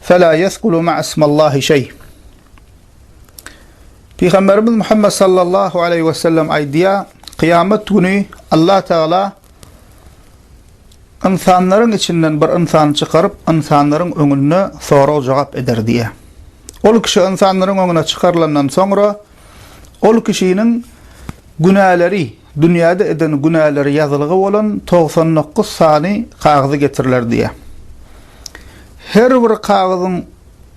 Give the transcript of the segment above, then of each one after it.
Fela yesgulu ma'a ismallahi şeý. Pygamberimiz Muhammed sallallahu aleyhi ve sellem aýdýa, kyýamet güni Allah Tagala ynsanlaryň içinden bir ynsany çykaryp, ynsanlaryň öňünde sorag-jogap eder diýýä. Ol kişi ynsanlaryň öňüne çykarylandan soňra, Ol kişiniň günäleri, dünýäde eden günäleri ýazylgy bolan togsan dokuz sany kagyzy getiriler diýýär. Her bir kagyzyň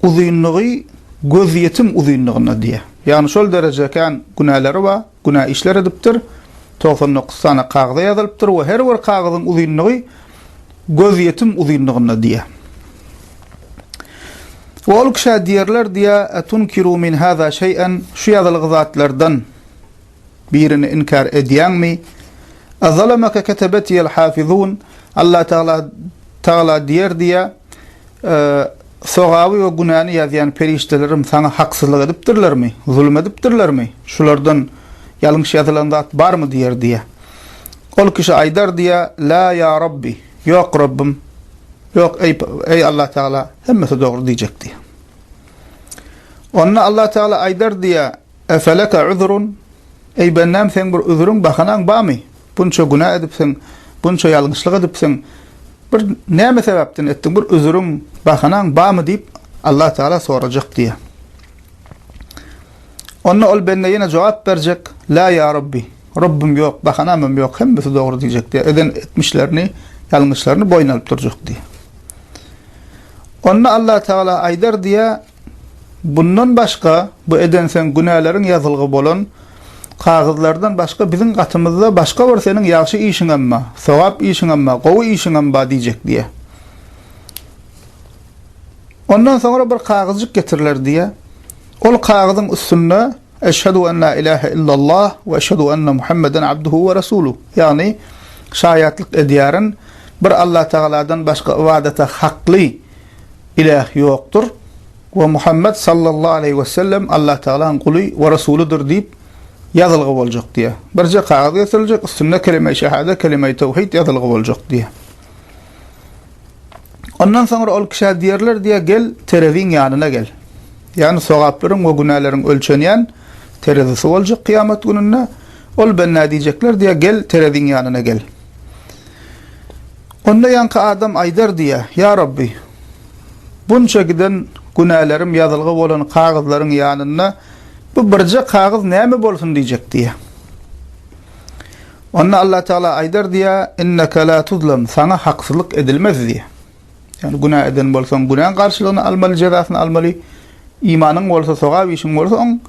uzynlygy gözýetim uzynlygynda diýýär. Ýagny şol dereje kän günäleri bar, günä işler edipdir. Togsan dokuz sany kagyza ýazylypdyr we her bir kagyzyň uzynlygy gözýetim uzynlygynda diýýär. We ol kişä diýerler diýýär, Etunkiru min hâzâ şey'en, şu ýazylgy zatlardan birini inkär edýäňmi? Ezalemeke ketebetiýel hâfizûn, Alla Tagala Tagala diýer diýýär, Sogaby we günäni ýazýan perişdelerim saňa haksyzlyk edipdirlermi, zulum edipdirlermi? Şulardan ýalňyş ýazylan zat barmy? diýer, diýýär. Ol kişi aýdar, diýýär, Lâ ýa Rabbi, ýok, Rabbym, ýok, eý, Allatagala, hemmesi dogry diýjek, diýýär. Onda Allatagala aýdar, diýýär. Efeleke üzrun, Eý, bendäm, seň bir üzrüň, bahanaň barmy? Bunça günä edipsiň, bunça ýalňyşlyk edipsiň. Bir näme sebäpden etdiň? Bir üzrüň, bahanaň barmy? diýip, Allah Tagala sorajak diýýär. Onda ol bende ýene jogap berjek, La ýa Rabbi, Rabbym ýok, bahanamam ýok, hemmesi dogry diýjek diýýär. Eden etmişlerini, ýalňyşlaryny boýun alyp durjak diýýär. Onda Allah Tagala aýdar diýýär, Bundan başga, bu edenseň günäleriň ýazylgy bolan kagyzlardan başga biziň gatymyzda başga bir seniň ýagşy işiňem ba, sogap işiňem ba, gowy işiňem ba diýjek diýýär. Ondan soňra bir kagyzjyk getiriler diýýär. Ol kagyzyň üstünde Eşhedu en la ilahe illallah we eşhedu enne Muhammeden abduhu we rasuluh, ýagny şaýatlyk edýärin, bir Allatagaladan başga ybadata hakly Ilah ýokdur we Muhammet sallallahu aleýhi wesellem Allatagalaň guly we resulydyr diýip ýazylgy boljak diýýär. Birje kagyz getiriljek, üstünde Kelimeýi şehade, Kelimeýi tewhid ýazylgy boljak diýýär. Ondan soňra ol kişä diýerler diýýär, gel, tereziň ýanyna gel. Ýagny sogaplaryň we günäleriň ölçenýän terezisi boljak kyýamat gününde. Ol benda diýjekler diýýär, gel, tereziň ýanyna gel. Onda ýaňky adam aýdar diýýär, Ýa Rabbi! Bunça giden günälerim ýazylgy bolan kagyzlaryň ýanynda bu birje kagyz näme bolsun diýjek diýýär. Onda Allatagala aýdar diýýär, Inneke la tuzlam, saňa haksyzlyk edilmez diýýär. Ýagny günä eden bolsaň günäň garşylygyny almaly, jezasyny almaly, imanyň bolsa, sogap işiň bolsa oň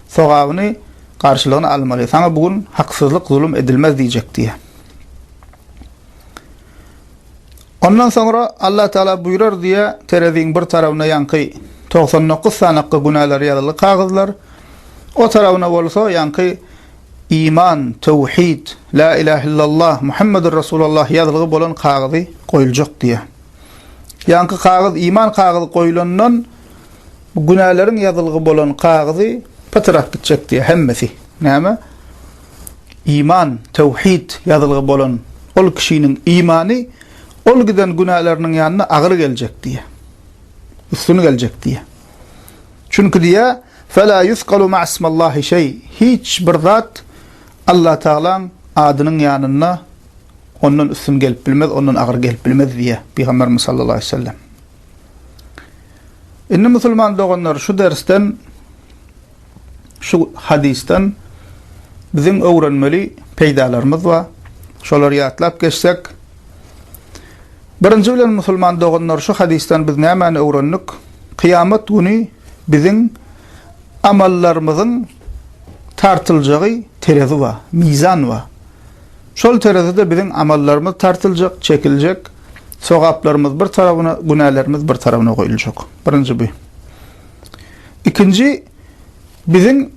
sogabyny, garşylygyny almaly. Saňa bu gün haksyzlyk, zulum edilmez diýjek diýýär. Ondan soňra Allah Tagala buýrar diýe tereziň bir tarawyna ýaňky togsan dokuz sanakga günälär ýazyly kagyzlar, o tarawyna bolsa ýaňky iman, töwhid, lä ilah illallah, Muhammedur Resulallah ýazylgy bolan kagyzy goýuljak diýe. Ýaňky kagyz iman kagyzy goýulandan günäleriň ýazylgy bolan kagyzy pytyrap gitjek diýe hemmesi. Näme? Iman, tewhid, ýazylgy bolan ol kişiniň imany ol giden günäleriniň ýanyna agyr geljek diýýär. Üstün geljek diýýär. Çünki diýýär, Felâ yusgalu ma'asmallâhi şeý, hiç bir zat Allatagalaň adynyň ýanynda ondan üstün gelip bilmez, ondan agyr gelip bilmez diýýär Pygamberimiz sallallahu aleýhi we sellem. Indi musulman doganlar şu dersden Şu hadysdan biziň öwrenmeli peýdalarymyz bar. Şolary ýatlap geçsek, Birinji bilen musulman doganlar şu hadysdan biz nämäni öwrendik? Kyýamat güni biziň amallarymyzyň tartyljagy terezi bar, mizan bar. Şol terezide biziň amallarymyz tartyljak, çekiljek, sogaplarymyz bir tarabyna, günälerimiz bir tarabyna goýuljak. Birinji bu. Ikinji, biziň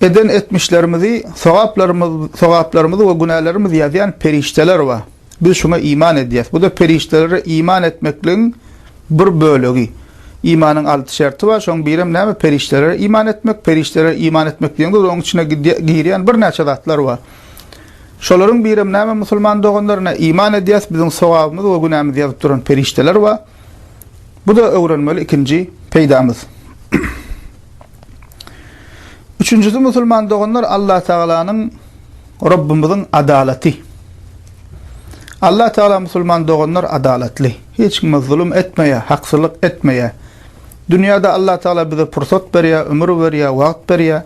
eden etmişlerimizi, sogaplarymyz, sogaplarymyzy we günälerimizi ýazýan perişdeler bar. Biz şuňa iman edýäs. Bu-da perişdelere iman etmekligiň bir bölegi. Imanyň alty şerti bar, şoň birem näme? Perişdelere iman etmek. Perişdelere iman etmek diýeňde, onuň içine girýän birnäçe zatlar bar. Şolaryň birem näme, musulman doganlar? Ine, iman edýäs, biziň sogabymyzy we günämizi ýazyp duran perişdeler bar. Bu-da öwrenmeli ikinji peýdamyz. Üçünjisi, musulman doganlar, Allatagalanyň, Rabbymyzyň adalaty. Allatagala, musulman doganlar, adalatly. Hiç kime zulum etmeýär, haksyzlyk etmeýär. Dünýäde Allatagala bize pursat berýär, ömür berýär, wagt berýär.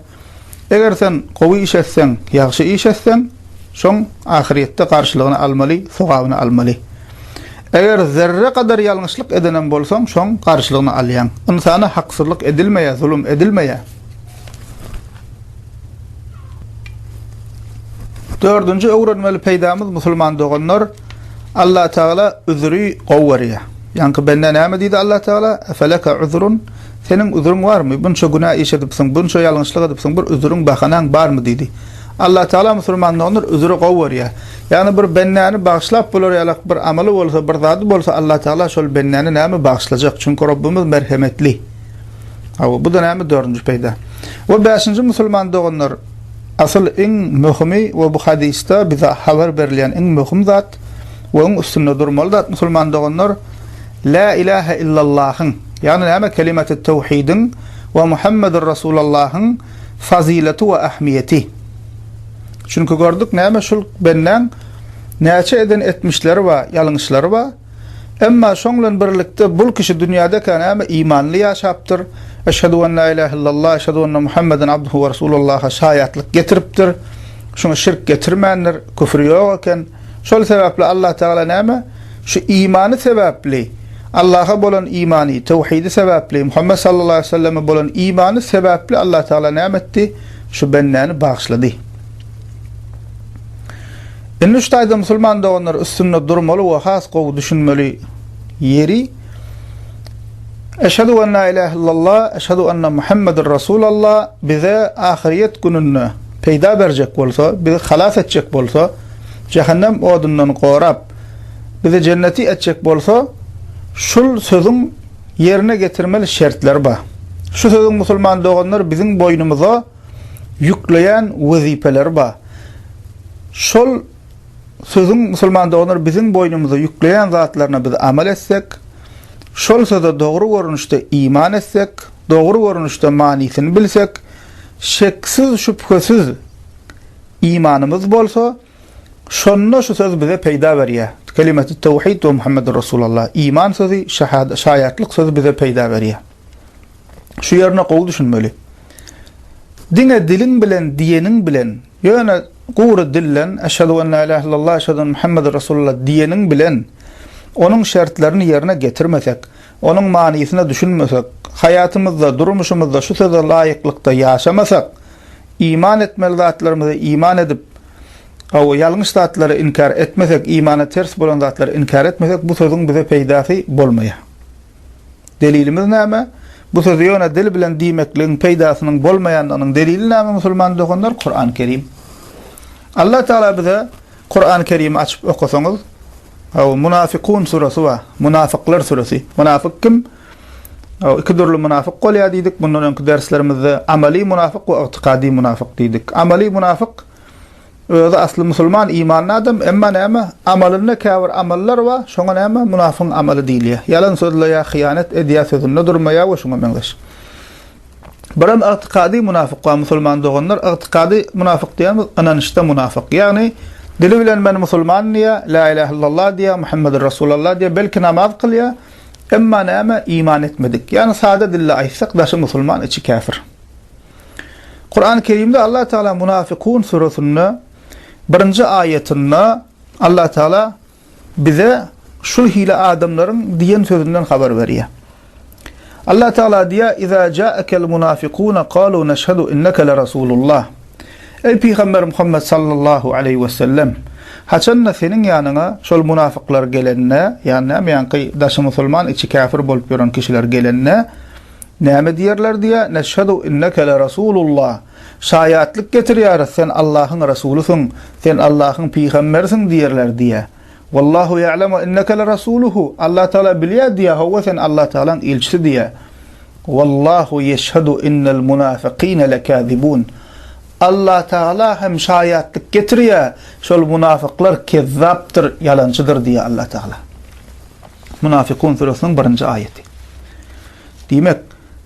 Eger sen gowy iş etseň, ýagşy iş etseň, şoň ahyrýetde garşylygyny almaly, sogabyny almaly. Eger zerre gadar ýalňyşlyk edenem bolsaň, şoň garşylygyny alýaň. Ynsana haksyzlyk edilmeýär, zulum edilmeýär. Dördünji öwrenmeli peýdamyz, musulman doganlar, Allatagala üzri gowy görýär. Ýaňky bende näme diýdi Allatagala? Efeleke üzrun? Seniň üzüriň barmy? Bunça günä iş edipsiň, bunça ýalňyşlyk edipsiň, bir üzüriň, bahanaň barmy? diýdi. Allatagala musulman doňňur üzüri gowy görýär. Ýagny bir bendäni bagyşlap bolar ýalak bir amaly bolsa, bir zady bolsa Allatagala şol bendäni näme bagyşlajak? Çünki Rabbimiz merhemetli. Hawa, bu-da näme dördünji peýda. We bäşinji musulman doganlar, asyl iň möhümi we bu hadysda bize habar berilýän iň möhüm zat we iň üstünde durmaly zat musulman doganlar, Lä ilähe illallahyň, ýagny näme kelimaty töwhidiň we Muhammedur Rasulallahyň fazyleti we ähmiýeti. Çünki gördük näme şul bendäň näçe eden etmişleri bar, ýalňyşlary bar. Emma şoň bilen birlikde bul kişi dünýädekä näme imanly ýaşapdyr, Eşhedü en lä ilähe illallah, eşhedü enne Muhammeden abduhu we rasulullaha şaýatlyk getiripdir. Şuňa şirk getirmändir, küfri ýok eken. Şol sebäpli Allah Tagala näme? Şu imany sebäpli, Allaha bolan imany, töwhidi sebäpli, Muhammet sallallahu aleýhi we selleme bolan imany sebäpli Allah Tagala näme etdi? Şu bendäni bagyşlady. Indi şu taýda musulman doganlar üstünde durmaly we has gowy düşünmeli ýeri Eşhedü en la ilahe illallah, eşhedü enne Muhammeden Resulallah bize ahyryýet gününde peýda berjek bolsa, bizi halas etjek bolsa, jähennem odundan gorap, bizi jenneti etjek bolsa, şul sözüň ýerine getirmeli şertleri bar. Şu sözüň musulman doganlar biziň boýnumyza ýükleýän wezipeleri bar. Şol sözüň musulman doganlar biziň boýnumyza ýükleýän zatlaryna biz amal etsek, şol söze dogry görnüşde iman etsek, dogry görnüşde manysyny bilsek, şeksiz-şübhesiz imanymyz bolsa, Şonda şu söz bize peýda berýär. Kelimetü't tewhid we Muhammedür Resulallah, iman sözi, şaýatlyk sözi bize peýda berýär. Şu ýerine gowy düşünmeli. Diňe diliň bilen diýeniň bilen, ýöne gury dilden Eşhedü en la ilahe illallah, Eşhedü enne Muhammedür Resulallah diýeniň bilen onuň şertlerini ýerine getirmesek, Onuň manysyna düşünmesek, haýatymyzda, durmuşymyzda şu söze laýyklykda ýaşamasak, iman etmeli zatlarymyza iman edip, gowy, ýalňyş zatlary inkär etmesek, imana ters bolan zatlary inkär etmesek, bu sözüň bize peýdasy bolmaýar. Delilimiz näme? Bu sözi ýöne dil bilen diýmekligiň peýdasynyň bolmaýandygynyň delili näme musulman doganlar? Kurany Kerim. Alla Tagala bize Kurany Kerimi açyp okasaňyz Haw Munafykun surasy bar. Munafyklar surasy. Munafyk kim? Haw iki dürli munafyk bolýar diýdik. Mundan öňki derslerimizde amaly munafyk we ygtykady munafyk diýdik. Amaly munafyk özi asly musulman imanly adam emma näme amalynda käbir amallar bar şoňa näme munafygyň amaly diýilýär. Ýalan sözleýär, hyýanat edýär, sözünde durmaýar we şuňa meňzeş. Buram ygtykady munafyk bar musulman doganlar ygtykady munafyk diýýämiz ynanyşda munafyk ýagny dili bilen men musulman diýýär la ilah illallah diýýär Muhammedur Rasulallah diýýär belki namaz kylýar emma näme iman etmedik ýagny sada dilde aýtsak daşy musulman içi käfir Kurany kerimde Allah Taala munafykun surasynda birinji aýatynda Allah Taala bize şul hili adamlaryň diýen sözünden habar berýär. Allah Tagala diýýär, Iza ja'akel munafikuna kalu neşhedu inneke le Rasulullah. Eý Pygamber Muhammet sallallahu aleýhi we sellem! Haçanda seniň ýanyňa şol munafyklar gelende, ýagny näme ýaňky daşy musulman içi käfir bolup ýören kişiler gelende näme diýerler diýýär, neşhedu inneke le Rasulullah. Şaýatlyk getirýäris sen Allahyň Rasulysyň, sen Allahyň pygamberisiň diýerler diýe. Wallahu ýa'lem we inneke lerasuluhu, Allah Tagala bilýär diýe, hawa sen Allah Tagalaň ilçisi diýe. Wallahu ýeşhedu innel munafykine lekazibun, Allah Tagala hem şaýatlyk getirýär, şol munafyklar kezzapdyr, ýalançydyr diýe Allah Tagala. Munafykun süresiniň birinji aýaty. Diýmek.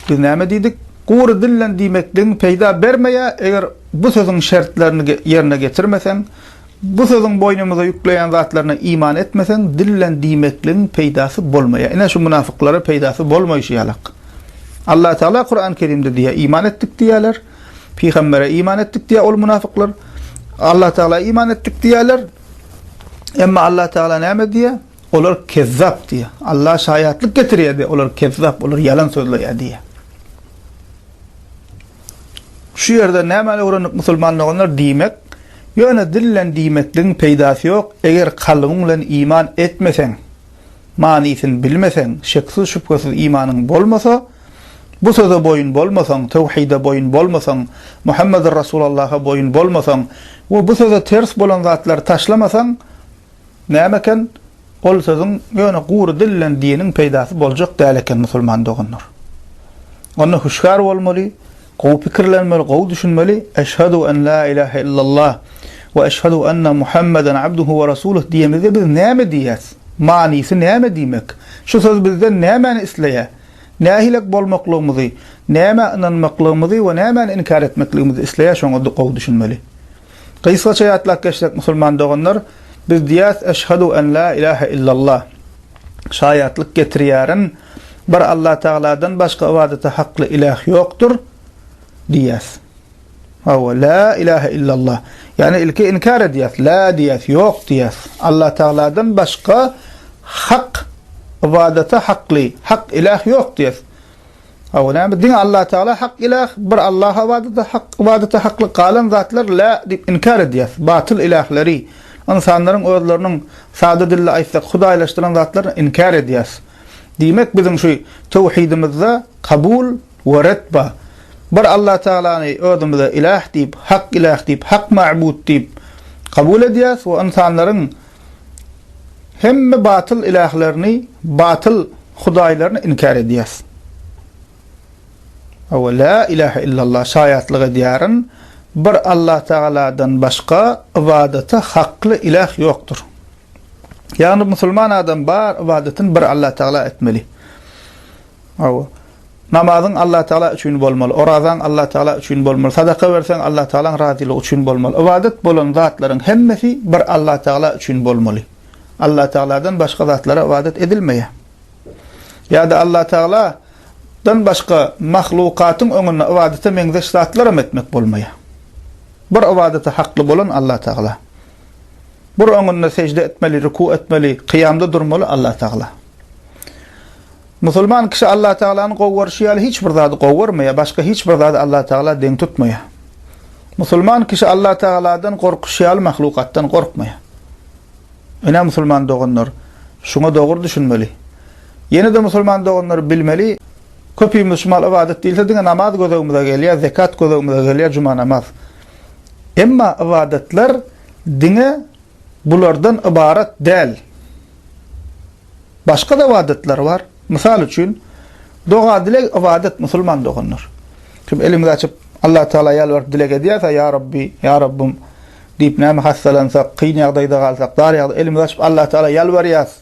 Biz näme diýdik? Gury dillen diýmekligiň peýda bermeýär, eger bu sözüň şertlerini ýerine getirmeseň, bu sözüň boýnumyza ýükleýän zatlaryna iman etmeseň, dillen diýmekligiň peýdasy bolmaýar. Ine, şu mynafyklara peýdasy bolmaýşy ýalak. Allah Tagala Kurany Kerimde diýýär, Iman etdik diýýärler, pygambere iman etdik diýýär ol mynafyklar. Allah Tagala iman etdik diýýärler. Emma Allah Tagala näme diýýär? Olar kezzap diýýär. Alla şaýatlyk getirýär diýýär. Olar kezzap, olar ýalan sözleýär diýýär. Şu ýerden nämäni öwrendik musulman doganlar? Diýmek, ýöne dil bilen diýmekligiň peýdasy ýok, eger kalbyň bilen iman etmeseň, manysyny bilmeseň, şeksiz-şübhesiz imanyň bolmasa, bu söze boýun bolmasaň, töwhide boýun bolmasaň, Muhammedur Rasulallaha boýun bolmasaň we bu söze ters bolan zatlary taşlamasaň, Näme eken ol sözüň ýöne gury dil bilen diniň peýdasy boljak däl eken musulman doganlar. Onda hüşgär bolmaly, gowy pikirlenmeli, gowy düşünmeli, Eşhadu en la ilahe illallah we eşhadu enne Muhammeden abduhu we rasuluh diýemizde biz näme diýýäs? Manysy näme diýmek? Şu söz bizden nämäni isleýär? Nähilek bolmaklygymyzy, nämä ynanmaklygymyzy we nämäni inkär etmekligimizi isleýär şoňa gowy düşünmeli. Gysgaça ýatlap geçsek musulman doganlar, biz diýýäs Eşhadu en la ilahe illallah, şaýatlyk getirýärin, bir Allah Tagaladan başga ybadata hakly iläh ýokdur diýýäs. Hawa, la ilahe illallah. Ýagny ilki inkär edýäs, la diýýäs, ýok diýýäs. Allah Tagaladan başga hak ybadata hakly, hak iläh ýok diýýäs. Hawa, näme, diňe Allatagala hak ilah, bir Allaha ybadata hak, ybadata haklyk, galan zatlar la diýip inkär edýär. Batyl ilahleri, ynsanlaryň özleriniň, sada dilde aýtsak, hudaýlaşdyran zatlaryny inkär edýär. Diýmek, biziň şu töwhidimizde kabul we ret bar. Bir Allatagalany özümize ilah diýip, hak ilah diýip, hak mabut diýip kabul edýäris we ynsanlaryň hemme batyl ilählerini, batyl hudaýlaryny inkär edýäs. Hawa, la ilahe illallah şaýatlyk edýärin, bir Allah Tagaladan başga ybadata hakly iläh ýokdur. Ýagny musulman adam bar ybadatyn bir Allah Tagala etmeli. Hawa. Namazyň Allatagala üçin bolmaly, orazaň Allatagala üçin bolmaly, sadaka berseň Allatagalaň razylygy üçin bolmaly. Ybadat bolan zatlaryň hemmesi bir Allatagala üçin bolmaly. Allatagaladan başga zatlara ybadat edilmeýär. Ýa-da Allatagala dan başga mahlukatyň öňünde ybadata meňzeş zatlaram etmek bolmaýar. Bir ybadata hakly bolan Allatagala. Bir öňünde sežde etmeli, ruku etmeli, kyýamda durmaly Allatagala. Musulman kişi Allatagalany gowy görşi ýaly hiç bir zady gowy görmeýär, başga hiç bir zady Allatagala deň tutmaýar. Musulman kişi Allatagaladan gorkuşy ýaly mahlukatdan gorkmaýar. Ine musulman doganlar, şuňa dogry düşünmeli. Ýene-de musulman doganlar bilmeli, köpimiz şu mahaly ybadat diýilse diňe namaz gözegimize gelýär, zekat gözegimize gelýär, juma namaz. Emma ybadatlar diňe bulardan ybarat däl. Başga-da ybadatlar bar. Mysal üçin, doga-dileg ybadat, musulman doganlar. Kim elimizi açyp, Allatagala ýalbaryp dileg edýärse, Ýa Rabbi, Ýa Rabbym diýip, näme hassalansak, kyn ýagdaýda galsak, dar ýagdaý, elimizi açyp, Allatagala ýalbarýarys,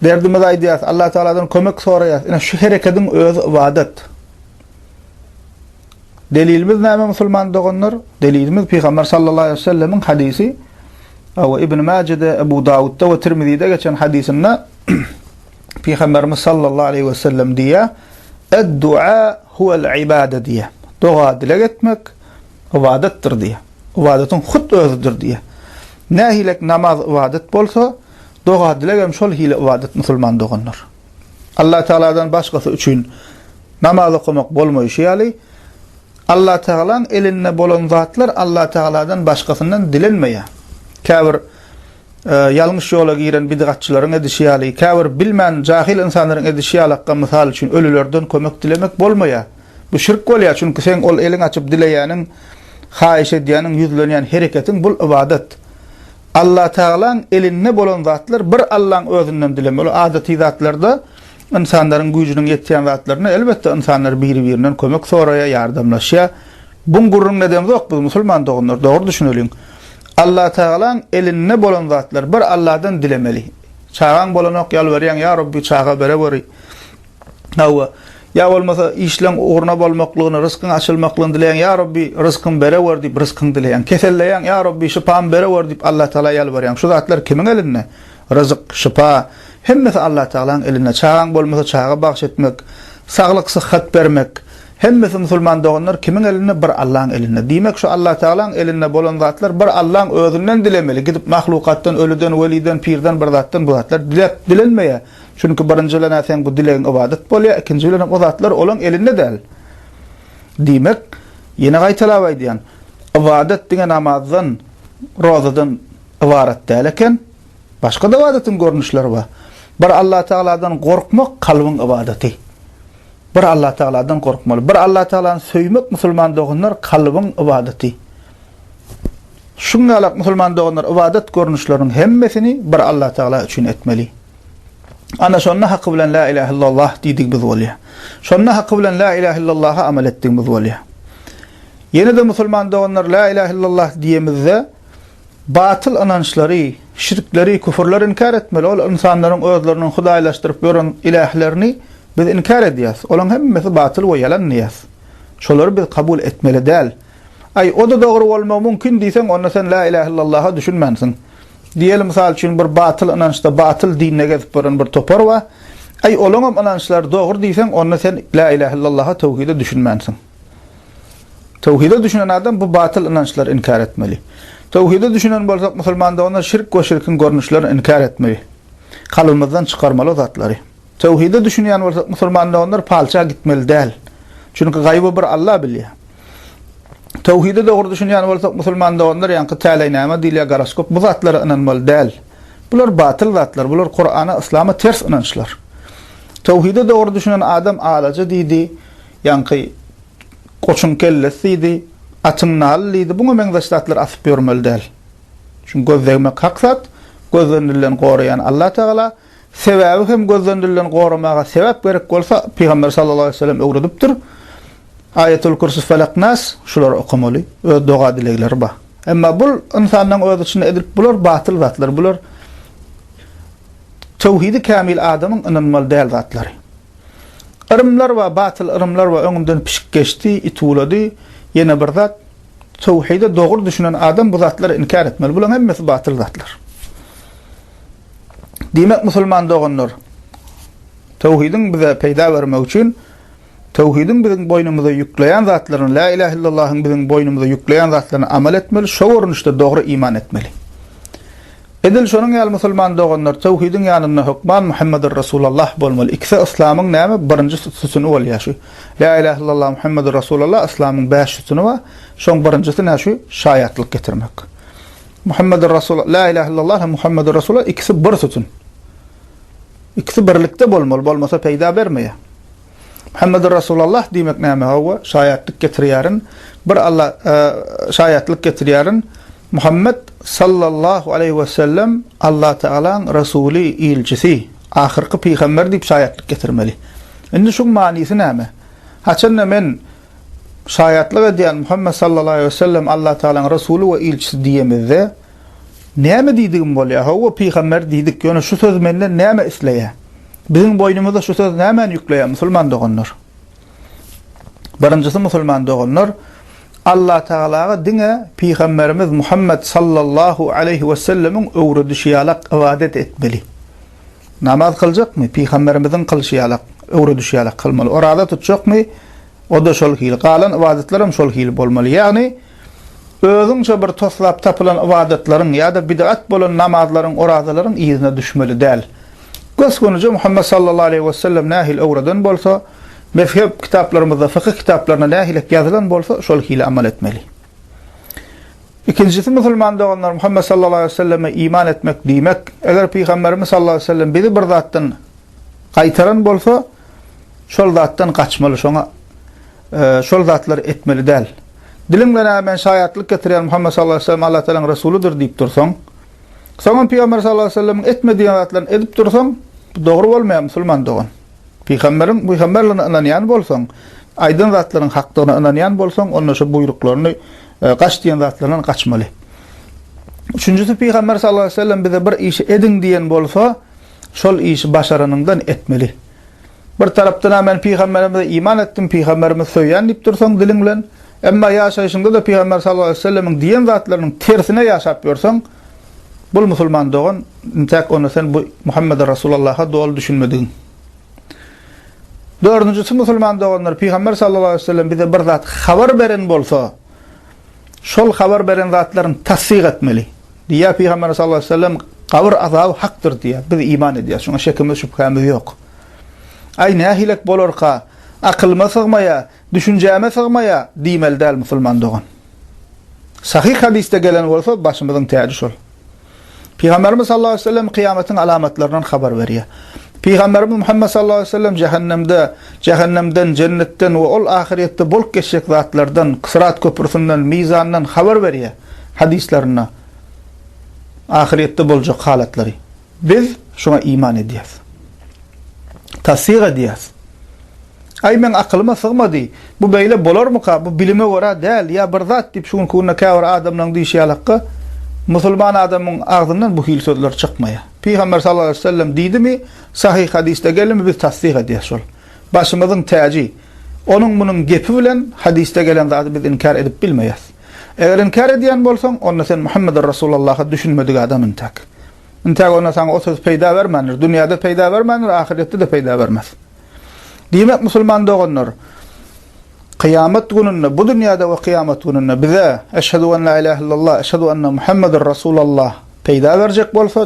derdimizi aýdýarys, Allatagaladan kömek soraýarys. Ine, şu herekediň özi ybadat. Delilimiz näme musulman doganlar? Delilimiz Pygamber sallallahu aleyhi ve sellemiň hadisi. Awa Ibn Majede, Ebu Davudda ve Tirmizide geçen hadisinde Pygamberimiz sallallahu aleyhi ve sellem diýýär: "Ed-dua huvel ibade" diýýär. Doga dileg etmek ibadatdyr diýýär. Ibadatyň hut özüdir diýýär. Nähilek namaz ibadat bolsa, doga dileg hem şol hili ibadat musulman doganlar. Allatagaladan başgasy üçin namaz okamak bolmaýşy ýaly, Allatagalaň elinde bolan zatlar Allatagaladan başgasyndan dilenmeýär. Käbir ýalňyş ýola giren bidgatçylaryň edişi ýaly, käbir bilmän jahyl ynsanlaryň edişi ýalakka mysal üçin ölülerden kömek dilemek bolmaýar. Bu şirk bolýar, çünki seň ol eliň açyp dileýäniň, haýyş edýäniň, ýüzlenýän hereketiň bul ybadat. Allatagalaň elinde bolan zatlar bir Allaň özünden dilemeli. Ol adaty zatlarda ynsanlaryň güýjüniň ýetýän zatlarynda elbetde ynsanlar biri-birinden kömek soraýar, ýardamlaşýar. Buň gürrüňini edemzok biz musulman doganlar, dogry düşüneliň. Allatagalaň elinde bolan zatlar bir Alladan dilemeli. Çagaň bolanok ýalbarýaň, ýa Rabbi çaga bereweri. Hawa, ýa bolmasa işleň ugruna bolmaklygyny, ryskyň açylmaklygyny dileýäň, ýa Rabbi, ryskymy berewer diýip ryskyňy dileýäň. Keselleýäň, ýa Rabbi, şypamy berewer diýip Allatagala ýalbarýaň. Şu zatlar kimiň elinde? Ryzyk, şypa, hemmesi Allatagalanyň elinde. Çagaň bolmasa çaga bagş etmek, saglyk, syhhat bermek, hemmesi musulman doganlar kimiň elinde? Bir Allaň elinde. Diýmek şu Allatagalaň elinde bolan zatlar bir Allaň özünden dilemeli, gidip mahlukatdan, ölüden, weliden, pirden bir zatdan bu zatlar dilep, dilenmeýär. Çünki birinji bilen-ä seň bu dilegiň ybadat bolýar, ikinji bilen hem o zatlar olaň elinde däl. Diýmek, ýene gaýtalap aýdýan, ybadat diňe namazdan, rozadan ybarat däl eken, başga-da ybadatyň görnüşleri bar. Bir Allatagaladan gorkmak kalbyň ybadaty. Bir Allatagaladan gorkmaly. Bir Allatagalany söýmek, musulman doganlar, kalbyň ybadaty. Şuňňalak musulman doganlar ybadat görnüşleriniň hemmesini bir Allatagala üçin etmeli. Ana şonda haky bilen la ilahe illallah diýdigimiz bolýar. Şonda haky bilen la ilahe illallaha amal etdigimiz bolýar. Ýene-de musulman doganlar la ilahe illallah diýemizde batyl ynançlary, şirkleri, küfürleri inkär etmeli. Ol ynsanlaryň özleriniň hudaýlaşdyryp ýören ilählerini biz inkär edýäs. Olaryň hemmesi batyl we ýalan diýýäs. Şolary biz kabul etmeli däl. Aý, o-da dogry bolmagy mümkin diýseň, onda sen la ilahe illallaha düşünmänsiň. Diýeli, mysal üçin, bir batyl ynançda, batyl dinde gezip ýören bir topar bar. Aý, olaňam ynançlary dogry diýseň, onda sen Lä ilähe illallaha, töwhide düşünmänsiň. Töwhide düşünen adam bu batyl ynançlary inkär etmeli. Töwhide düşünen bolsak, musulmanda onda şirk we şirkiň görnüşlerini inkär etmeli. Kalbymyzdan çykarmaly o zatlary. Töwhide düşünýän bolsak musulman doganlar palça gitmeli däl. Çünki gaýby bir Alla bilýär. Töwhide dogry düşünýän bolsak musulman doganlar ýaňky täleý näme diýilýär goroskop bu zatlara ynanmaly däl. Bular batyl zatlar bular kurana yslama ters ynançlar. Töwhide dogry düşünen adam alaja diýdi ýaňky goçuň kellesi diýdi atyň naly diýdi buňa meňzeş zatlar asyp ýörmeli däl. Çünki göz degmek hak zat göz degnilen goraýan Alla tagala. Sebäbi hem gözlendirileni goramaga sebäp gerek bolsa, Pygamber sallallahu aleýhi we sellem öwredipdir. Aýatul Kürsü, Felak, Nas, şulary okamaly. Öz doga-dilegleri bar. Emma bul ynsanlaryň öz içinde edilip bular batyl zatlar. Bular töwhidi kämil adamyň ynanmaly däl zatlary. Yrymlar bar, batyl yrymlar bar. Öňümden pişik geçdi, it uwlady. Ýene bir zat, töwhide dogry düşünen adam bu zatlary inkär etmeli. Bularyň hemmesi batyl zatlar. Diýmek, musulman doganlar, töwhidiň bize peýda bermegi üçin töwhidiň biziň boýnumyza ýükleýän zatlaryny, Lä ilähe illallahyň biziň boýnumyza ýükleýän zatlaryny amal etmeli, şo görnüşde dogry iman etmeli. Edil şonuň ýaly musulman doganlar töwhidiň ýanynda hökman Muhammedur Resulallah bolmaly. Ikisi yslamyň näme? Birinji sütüni bolýar şu. Lä ilähe illallah Muhammedur Resulallah yslamyň bäş sütüni bar. Şoň birinjisi nä şu? Şaýatlyk getirmek. Muhammedur Rasul, La ilahe illallah hem Muhammedur Rasulullah ikisi bir sütün. İkisi birlikde bolmaly, bolmasa peýda bermeýär. Muhammedur Rasulullah diýmek näme? Hawa, şaýatlyk getirýärin. Bir Allah e, şaýatlyk getirýärin. Muhammed sallallahu aleyhi ve sellem Allah Teala'nın Resulü, ilçisi, ahirki peygamber deyip şayatlık getirmeli. Şimdi şu manisi neyme? Haçanda men Şaýatlyk edýän Muhammet sallallahu aleýhi wesellem Allah Tagalaň Resuly we ilçisi diýemizde näme diýdigim bolýar? Hawa pygamber diýdik, ýöne şu söz menden näme isleýär? Biziň boýnumyza şu söz nämäni ýükleýär musulman doganlar? Birinjisi musulman doganlar Allah Tagalaga diňe pygamberimiz Muhammet sallallahu aleýhi wesellemiň öwredişi ýalak ybadat etmeli. Namaz kyljakmy? Pygamberimiziň kylşy ýalak, öwredişi ýalak kylmaly. Oraza tutjakmy? O-da şol hili. Galan ybadatlar hem şol hili bolmaly. Ýagny, özüňçe bir toslap tapylan ybadatlaryň ýa-da bid'at bolan namazlaryň, orazalaryň yzyna düşmeli däl. Gös-gönüje Muhammet sallallahu aleýhi wesellem nähili öwreden bolsa, mezhep kitaplarymyzda, fykyh kitaplarynda nähilek ýazylan bolsa, şol hili amal etmeli. Ikinjisi musulman doganlar Muhammet sallallahu aleýhi we selleme iman etmek diýmek. Eger pygamberimiz sallallahu aleýhi we sellem bizi bir zatdan gaýtaran bolsa, şol zatdan gaçmaly, şoňa şol zatlary etmeli däl. Diliň bilen a men şaýatlyk getirýän Muhammet sallallahu aleýhi we sellem Allah Taalanyň resulydyr diýip dursaň, soňam pygamber sallallahu aleýhi we sellemiň etme diýen zatlaryny edip dursaň, bu dogry bolmaýar musulman dogan. Pygamberiň pygamberligine ynanýan bolsaň, aýdan zatlaryň hakdygyna ynanýan bolsaň, onda şu buýruklaryny, gaç diýen zatlaryndan gaçmaly. Üçünjisi pygamber sallallahu aleýhi we sellem bize bir işi ediň diýen bolsa, şol işi başaranyňdan etmeli. Bir tarapdan-a men pygamberimize iman etdim, pygamberimi söýýän diýip dursaň diliň bilen, Emma ýaşaýşyňda-da Pygamber sallallahu aleýhi we sellemiň diýen zatlarynyň tersine ýaşap ýörseň, bul musulman dogan, intäk onda sen bu Muhammede Rasulallaha doly düşünmedigiň. Dördünjisi musulman doganlar, Pygamber sallallahu aleýhi we sellem bize bir zat habar beren bolsa, şol habar beren zatlaryny tassyk etmeli. Diýýär Pygamberimiz sallallahu aleýhi we sellem, Gabyr azaby hakdyr diýýär. Biz iman edýäris, şuňa şekimiz, şübhämiz ýok. Aý, nähilek bolarka, akylyma sygmaýar, Düşünjäme sygmaýa diýmeli däl musulman dogan. Sahyh hadysda gelen bolsa başymyzyň täji şol. Pygamberimiz sallallahu aleyhi ve sellem kyýamatyň alamatlaryndan habar berýär. Pygamberimiz Muhammed sallallahu aleyhi ve sellem jehennemde, jehennemden, jennetden we ol ahyryýetde bolup geçjek zatlardan, syrat köprüsinden, mizandan habar berýär hadyslarynda. Ahyryýetde boljak halatlary. Biz şuňa iman edýäris. Tassyk edýäris. Aý, meň akylyma sygmady. Bu beýle bolarmyka? Bu bilime görä däl, ýa bir zat diýip, şu günki günde käbir adamlaryň diýşi ýalakka, musulman adamyň agzyndan bu hili sözler çykmaýa. Pygamber sallallahu aleýhi we sellem diýdimi, sahyh hadysda gelimi biz tassyk edýäs şol. Başymyzyň täji. Onuň munuň gepi bilen hadysda gelen zady biz inkär edip bilmeýäs. Eger inkär edýän bolsaň, onda sen Muhammedur Rasulallaha düşünmedik adam intäk. Intäk onda saňa o söz peýda bermändir. Dünýäde peýda bermändir, ahyretde-de peýda bermez. Diýmek, musulman doganlar, kyýamat gününde, bu dünýäde we kyýamat gününde bize Eşhedü en la ilahe illallah, Eşhedü enne Muhammedun Resulallah peýda berjek bolsa,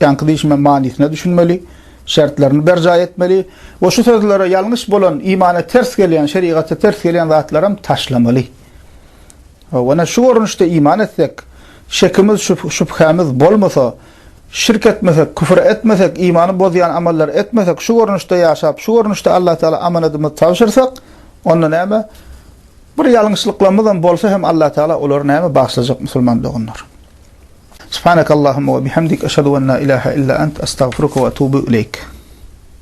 ýaňky diýşime manysyna düşünmeli, şertlerini berjaý etmeli we şu sözlere ýalňyş bolan, imana ters gelýän, şerigaty ters gelýän zatlaram taşlamaly. Ýöne şu görnüşde iman etsek, şekimiz, şübhämiz bolmasa, şirk etmesek, küfür etmesek, imany bozýan amallary etmesek, şu görnüşde ýaşap, şu görnüşde Alla Tagala amanadymyzy tabşyrsak, onda näme, bir ýalňyşlyklarymyzam bolsa hem Alla Tagala olary näme, bagyşlajak musulman doganlar. Subhanakallahumma we bihamdik, eşhedü en la ilahe illa ent, estagfiruke we etubu ileýk.